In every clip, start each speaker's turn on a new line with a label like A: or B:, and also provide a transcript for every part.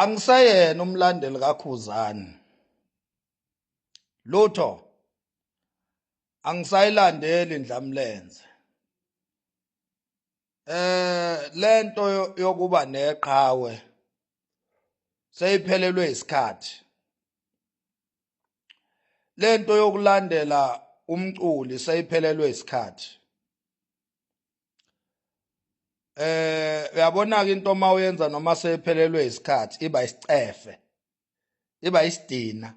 A: angiseyena umlandeli kakhuzani lutho angisayilandeli ndlamlenze eh lento yokuba neqhawe seyiphelelwe isikhathi lento yokulandela umculi seyiphelelwe isikhathi eh uyabona ke into uma uyenza noma sephelelwe isikhathi iba isicefe iba isidina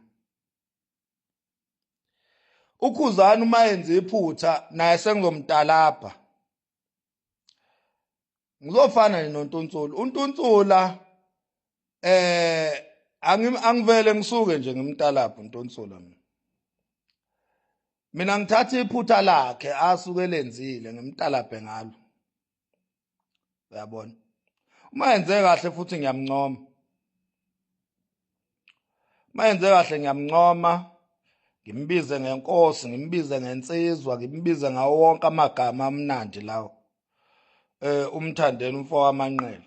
A: ukhuzana uma yenza iphutha naye sengizomtalapha ngizofana nontunsula untunsula eh angivele ngisuke nje ngimtalapho ntonsola mina mina ngithatha iphutha lakhe asuke lenzile ngimtalaphe ngalo uyabona uma yenze kahle futhi ngiyamncoma uma yenze kahle ngiyamncoma ngimbize ngenkosi ngimbize ngensizwa ngimbize ngawo wonke amagama amnandi lawo eh umthandeni umfo wamanqele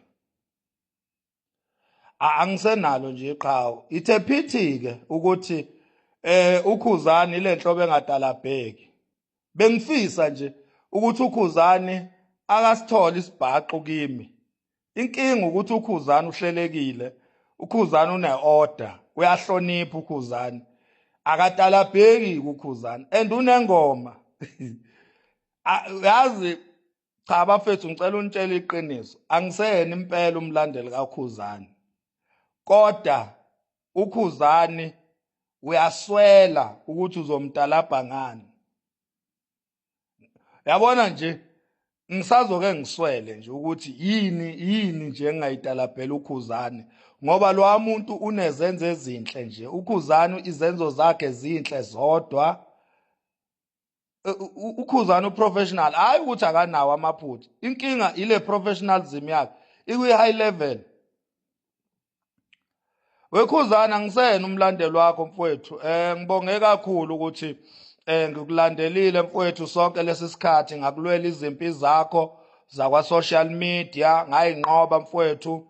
A: angisenalo nje iqhawe ithe phithi ke ukuthi eh ukhuzani ile nhlobo engadalabheki bengifisa nje ukuthi ukhuzani akasithole isibhaxu kimi inkinga ukuthi ukhuzani uhlelekile ukhuzani uneorder uyahlonipha ukhuzani akatalabheki kukhuzani and unengoma yazi cha bafethu ngicela unitshele iqiniso angiseyena impela umlandeli kakhuzani kodwa ukhuzani uyaswela ukuthi uzomtalabha ngani yabona nje ngisazoke ngiswele nje ukuthi yini yini nje engayitalabhela ukhuzani ngoba lo muntu unezenzo ezinhle nje ukhuzani izenzo zakhe zinhle zodwa eh, ukhuzana uprofessional hayi ukuthi akanawo amaphutha inkinga ile professionalism yakhe ikwi high level wekhuzana ngisena umlandelo wakho mfowethu eh ngibonge kakhulu ukuthi eh ngikulandelile mfowethu sonke lesi sikhathi ngakulwela izimpi zakho zakwa social media ngayinqoba mfowethu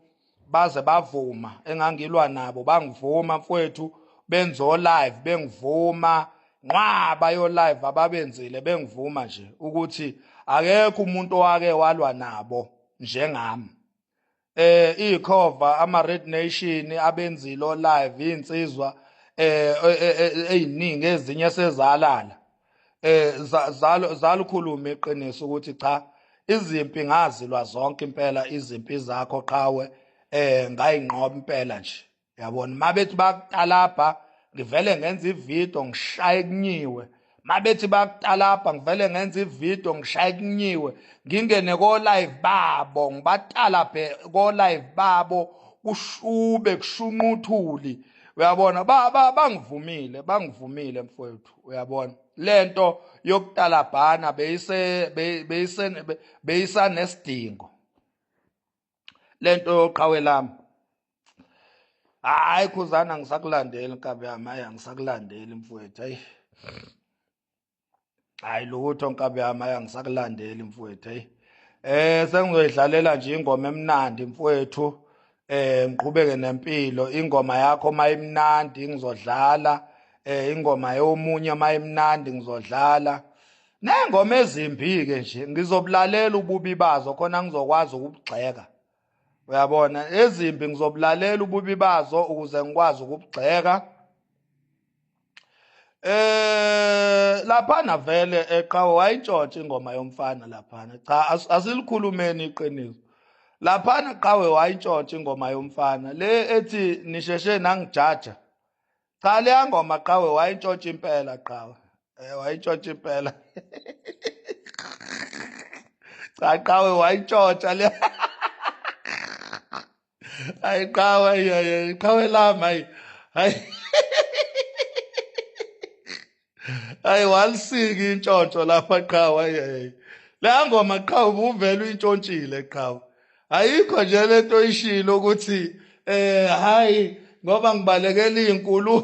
A: baze bavuma engangilwa nabo bangivuma mfowethu benzo live bengivuma nqwaba yo live ababenzile bengivuma nje ukuthi akekho umuntu owake walwa nabo njengami eh ikhova ama red nation abenzilo live insizwa eh eziningi eh, eh, eh, eziningi ezinye sezalala eh zalo zalukhuluma iqiniso ukuthi cha izimpi ngazilwa zonke impela izimpi zakho qhawe eh ngayinqoba impela nje yabona mabethi bakutalabha ngivele ngenza ivideo ngishaye kunyiwe mabethi bakutalabha ngivele ngenza ivideo ngishaye kunyiwe ngingene ko live babo ngibatalabhe ko live babo kushube kushunquthuli uyabona bangivumile bangivumile mfowethu uyabona lento yokutalabhana beyise beyise beyisanesidingo lento yoqhawe lami hayi khuzana ngisakulandeli nkabi yami hayi angisakulandeli mfowethu hayi hayi lutho nkabi yami hayi angisakulandeli mfowethu hayi eh sengizoyidlalela nje ingoma emnandi mfowethu eh ngiqhubeke nempilo ingoma yakho mayimnandi ngizodlala eh ingoma yomunye mayimnandi ngizodlala nengoma ezimbi ke nje ngizobulalela ububi bazo khona ngizokwazi ukubugxeka uyabona ezimbi ngizobulalela ububi bazo ukuze ngikwazi ukubugxeka Eh laphana vele eqhawe wayitshotsha ingoma yomfana laphana. Cha asilikhulumeni iqiniso. Laphana qhawe wayitshotsha ingoma yomfana le ethi nisheshe nangijaja. Cha le ngoma qhawe wayitshotsha impela qhawe. Eh wayitshotsha impela. Cha qhawe wayitshotsha le. hayi qhawe hayi qhawe lami hayi hayi hayi walisiki intshontsho lapha qhawe hayi la ngoma qhawe ubuvela uyintshontshile qhawe ayikho nje lento oyishilo ukuthi eh hayi ngoba ngibalekela izinkulu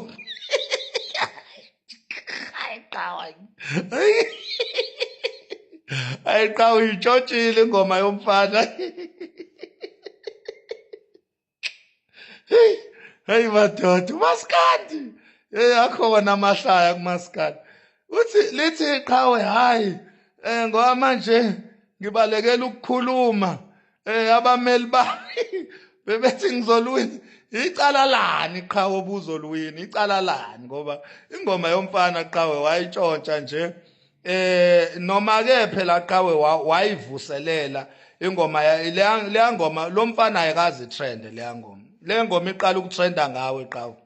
A: ayi qha uyitshotshile ingoma yomfana heyi heyi madoda umaskandi heyi akhona amahlaya kumaskandi uthi lithi qhawe hhayi um ngoba manje ngibalekela ukukhuluma eh abameli ba bebethi ngizoluwina icala lani qhawe obuzoluwina icala lani ngoba ingoma yomfana qhawe wayitshontsha nje eh noma ke phela qhawe wayivuselela ingoma leya ngoma lo mfana ayikazi trend leya ngoma le ngoma iqala ukutrenda ngawe qhawe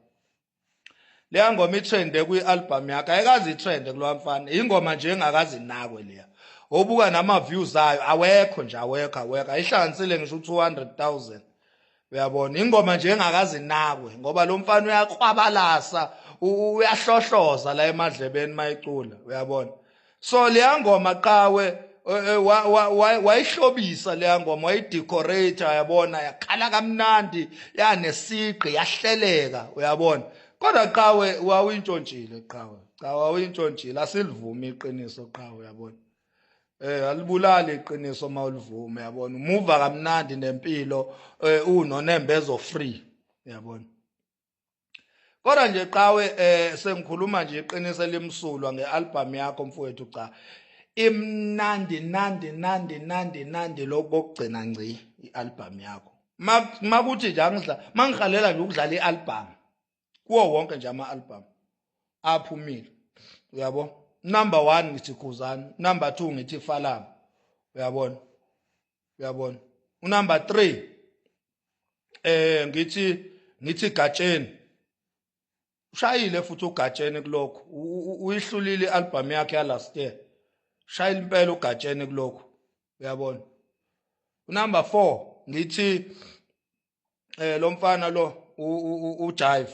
A: leya ngoma itrende kwi-albhamu yakhe ayikazi itrende kulowa mfana yingoma nje engakazi nakwe leya obuka nama-views ayo awekho nje awekho awekho ayihlanganisile ngisho u-two hundred thousand uyabona ingoma nje engakazi nakwe ngoba lo mfana uyakhwabalasa uyahlohloza la emadlebeni mayicula uyabona so leya ngoma qawe eh, eh, wayihlobisa leya ngoma wayidecorate yabona yakhala kamnandi yanesiqi yahleleka uyabona kodwa qawe wawuyintshontshile qawe qawe wawuyintshontshile asilivumi iqiniso qawe uyabona eh alibulali iqiniso uma ulivume yabona umuva kamnandi nempilo eh unonembezo free yabona kodwa nje qawe eh sengikhuluma nje iqiniso elimsulwa ngealbum yakho mfowethu cha imnandi nandi nandi nandi nandi lokugcina ngci ialbum yakho makuthi nje angidla mangihalela nje ukudlala ialbum kuwo wonke nje ama album aphumile uyabo number 1 ngithi khuzani number 2 ngithi falama uyabona uyabona unumber 3 eh ngithi ngithi gatsheni ushayile futhi ugatsheni kulokho uyihlulile ialbum yakhe ya last year shayile impela ugatsheni kulokho uyabona unumber 4 ngithi eh lo mfana lo ujive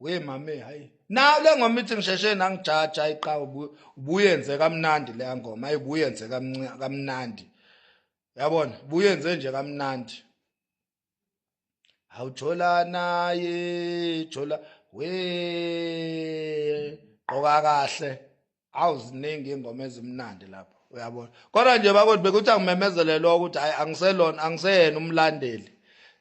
A: we mame hayi nayo le ngoma ithi ngisheshe nangijaja hayi qa ubuyenze kamnandi le ngoma hayi buyenze kamnandi yabona buyenze nje kamnandi awuthola naye thola we qoka kahle awu ziningi ingoma ezimnandi lapho uyabona kodwa nje bakoti bekuthi angimemezelelwa ukuthi hayi angiselona angiseyena umlandeli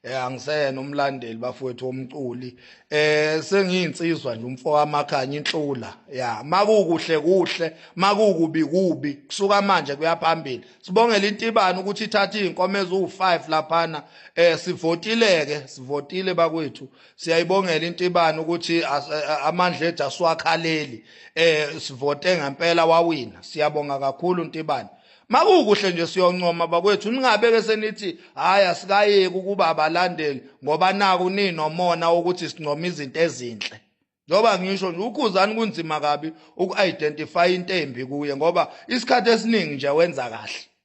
A: eh angiseyena umlandeli bafowethu omculi eh sengiyinsizwa nje umfo wamakhanya inhlula ya makukuhle kuhle makukubi kubi kusuka manje kuyaphambili sibongela intibani ukuthi ithatha izinkomo eziwu5 laphana eh sivotileke sivotile bakwethu Siyayibongela intibani ukuthi eh, amandla ethu asiwakhaleli eh sivote ngempela wawina siyabonga kakhulu intibani makukuhle nje siyoncoma bakwethu ningabeke senithi hayi asikayeki ukuba abalandeli ngoba naku ninomona ukuthi sincoma izinto ezinhle njengoba ngisho nje ukhuzani kunzima kabi uku-identify into embi kuye ngoba isikhathi esiningi nje wenza kahle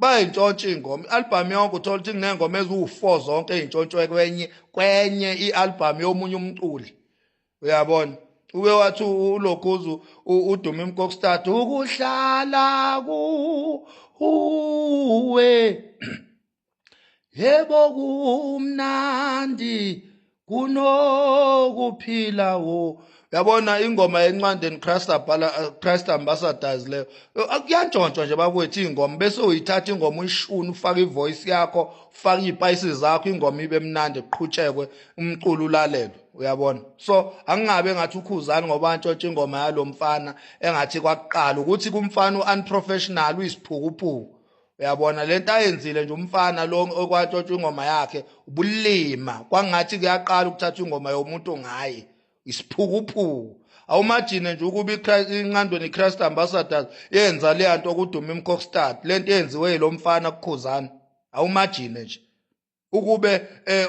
A: bayintshontsha ingoma i-albhamu yonke uthola ukuthi kuney'ngoma eziwu-four zonke ey'ntshontshwe kwenye kwenye i-albhamu yomunye umculi uyabona uke wathi ulokhuzu udume imkokstad ukuhlala kuwe yebo kumnandi kunokuphila wo yabona ingoma yencwadi and Christ abhala uh, Christ ambassadors leyo kuyantshontshwa nje bakwethu ingoma bese uyithatha ingoma uyishuna ufaka ivoice yakho ufaka izipayisi zakho ingoma ibe mnandi kuqhutshekwe umculo ulalelwe uyabona so angingabe ngathi ukhuzani ngoba antshontsha ingoma yalomfana engathi kwakuqala ukuthi kumfana uunprofessional uyisiphukuphuku uyabona lento ayenzile nje umfana lo okwatshotshwa ingoma yakhe ubulima kwangathi kuyaqala ukuthatha ingoma yomuntu ngaye isiphukuphuku awumajine nje ukuba inqandweni i-christ ambassadors yenza leya nto okuduma imcockstad le nto eyenziwe yilo mfana kukhuzana awumajine nje ukube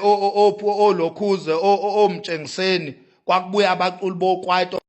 A: um olokhuze omtshengiseni kwakubuya abaculi bokwaito